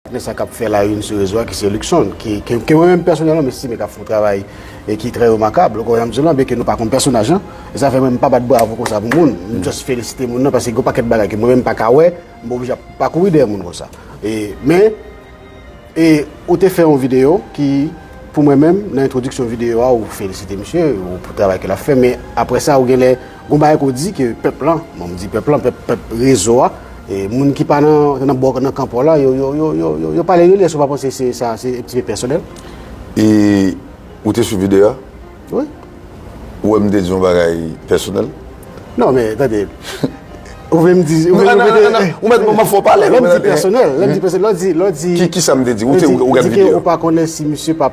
Apre sa k ap fè la youn sou rezo a ki se Luckson ki ke mwen menm pèsonèlman m estime k ap fè yon travay e ki trè remakab. Loko jan m di w lan byenke nou pa konn pèsonaj lan e sa fè mwen m pa bat bravo konsa pou moun. M just felisite moun nan paske gen yon pakèt bagay ke mwen menm m pa ka wè m oblije ap pa kouri dèyè moun konsa. E men e ou te fè yon videyo ki pou mwen menm nan entwodiksyon videyo a ou felisite misye pou travay ke l ap fè men apre sa ou genlè Gon bagay ke w di ke pèp lan, bon m di pèp lan, pèp, pèp rezo a, e moun ki pa nan, nan bò, nan kan pa w la, yo, yo, yo, yo, yo pale de li, èske w pa panse se sa, se un petit peu pèsonèl? E ou te swiv videyo a? Wi. Ou wè m te di yon bagay pèsonèl? Non, men, tande, ou vle m di, ou vle m di, Nan, nan, nan, ou mèt, m fè w pale. Lè m di pèsonèl, lè m di pèsonèl, lè w di, lè w di. Ki, kisa m te di? Ou te, ou gad videyo a? Ou di ke ou pa konnen si misye pa.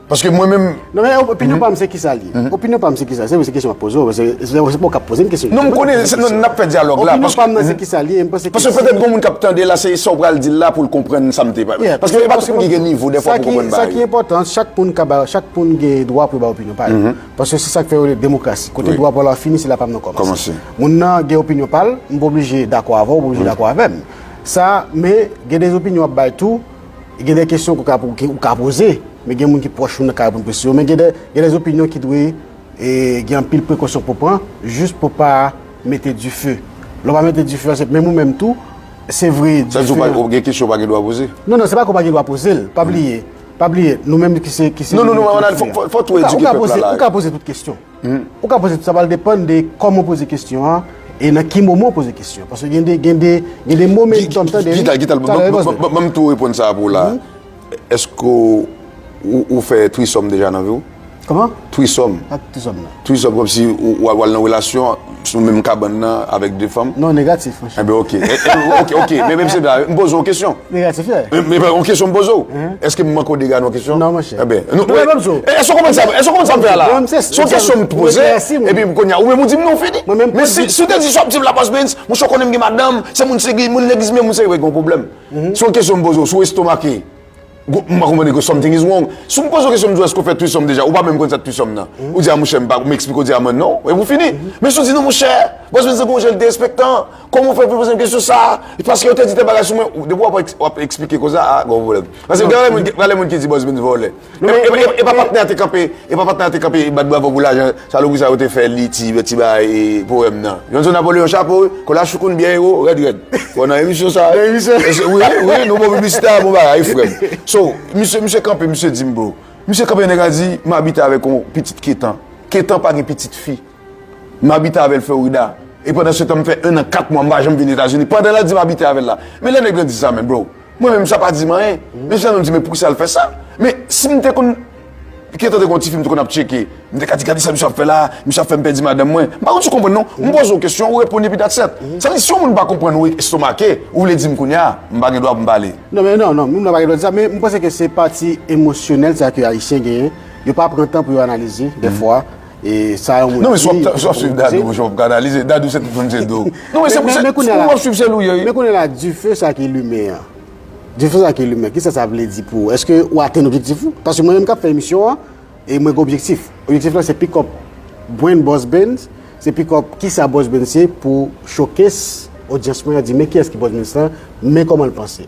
Paske mwen menm... Non men, opinyon pa m se kisa li? Opinyon pa m se kisa? Se vre se kesyon ap poze w, se pa w kap poze m kesyon. Non m konnen, n ap fè dyalòg la. Opinyon pa m nan se kisa li? Paske petèt gen moun k ap tande la, se sa w pral di l la pou l konprann sa m te pale. Paske e pa tout moun ki gen nivo dèfwa pou konprann bagay. Sa ki enpòtan, chak moun ka bay, chak moun gen dwa pou l bay opinyon pa l. Paske se sa k fè yo rele demokrasi. Kote dwa pa w la fini, se la pa m nan kòmanse. Moun nan gen opinyon pa l, m pa oblije dakò avè w, ou pa oblije dakò avè m. Sa, men, gen de opinyon w ap bay tou. E gen de kesyon ke ou ka poze, men gen moun ki pwòch ou nan ka reponn kesyon yo, men gen de zopinyon ki dwe gen anpil prekosyon pou pran, jis pou pa mete dife. Lè w pa mete dife, se menm ou menm tou, se vre dife. Sa di ou pa, ou gen kesyon ou pa gen dwa poze? Non, non, se pa ke ou pa gen dwa poze l, pa bliye, pa bliye, nou menm ki se, ki se. Non, non, non, fòk ou edike pèp la la. Ou ka poze tout kesyon. Ou ka poze, sa pral depann de kòman ou poze kesyon an e nan ki moman ou poze kesyon an. Paske gen de, gen de, gen de momentum tande wi. Gital, gital, banm tou reponn sa a pou ou la a. Eske ou fè threesome deja nan vi w? Kòman? Threesome. Sak threesome nan? Threesome kòmsi ou al nan relasyon. Sou menm kabann nan avèk 2 fanm? Non, negatif monchè. Enben ok. Ok, ok. Men menm se sa, m poze w yon kesyon. Negatif ye. Men yon kesyon m poze w. Eske m manke w dega nan yon kesyon? Non monchè. Enben. Non men banm di w. Eske w konprann sa, eske w konprann sa m fè a la? Banm se. Son kesyon m poze, epi m konnya ou menm ou di m non fini. Mwen menm. Men si w te di si w ap di m la Bosbens, monchè w konnen m gen madanm, se moun se gen moun legliz men moun se. Gen yon pwoblèm. Son kesyon m poze w, si w estomake. Gwo, m pa konprann eko something is wrong. Si w m poze w kesyon m di w èske w fè threesome deja, ou pa menm konn sa threesome nan. Ou di a monchè m pa, m eksplike w di a mwen non, epi w fini. Men si w di non monchè, baz mwen te santi yon jan l derespektan, kòman w fè pou w poze m kesyon sa, paske yo te di tèl bagay sou mwen, depi w ap, w ap eksplike koze a, gen yon pwoblèm. Paske gen anlè moun ki, gen anlè moun ki di baz mwen vòlè. Epa patnè a te kanpe, epa patnè a te kanpe bat bravo pou lajan. Salopri sa yo te fè li ti ti bagay poème nan. Johnson Napoléon chapo wi, kola choukoun byen ewo, rèd rèd. Bon nan emisyon sa a. Nan emisyon sa a. Wi wi nou bon piblisite a bon bagay wi frè m. So misye misye kanpe misye di m bro. Misye kanpe nèg la di m abite avèk yon pitit Ketan. Ketan pa gen pitit fi. M abite avè l Florida. E pandan se tan m fè 1 an 4 mwa m pa janm vin Etazini. Pandan l ap di m abite avè l la. Men lè nèg lan di sa men bro. Mwen menm sa pa di m anyen. Men jan nou di men pou ki sa l fè sa. Men si m te konn Piqué tande kon ti fi m te konn ap tcheke. M te ka di gade sa misye ap fè la a, misye ap fè m pèdi madanm mwen. M pa konn si w konprann non. M poze w kesyon, ou reponn epi that's et. Sa vle di si yon moun pa konprann ou estomake, ou vle di m kounye a, m pa gen dwa pou m pale. Non men non, non, moun nan pa gen dwa di sa. Men m panse ke se pati emosyonèl sa ke Ayisyen genyen. Yo pa pran tan pou yo analize dèfwa. E sa yon moun ap di. Non men si wap swiv Dadou monchè wap ka analize. Dadou se tout moun se do. Non men se pou se pou wap swiv se lou ye wi. Men kounye la dife sa ki limen an. Dife sa ki limen kisa sa vle di pou ou? Eske ou atenn objektif ou? Paske mwen menm kap fè emisyon an e mwen gen objektif. Objektif lan se pick up brand Boss Benz. Se pick up kisa Boss Benz ye pou showcase odyans mwen an di men kiyès ki Boss Benz lan, men kòman l panse.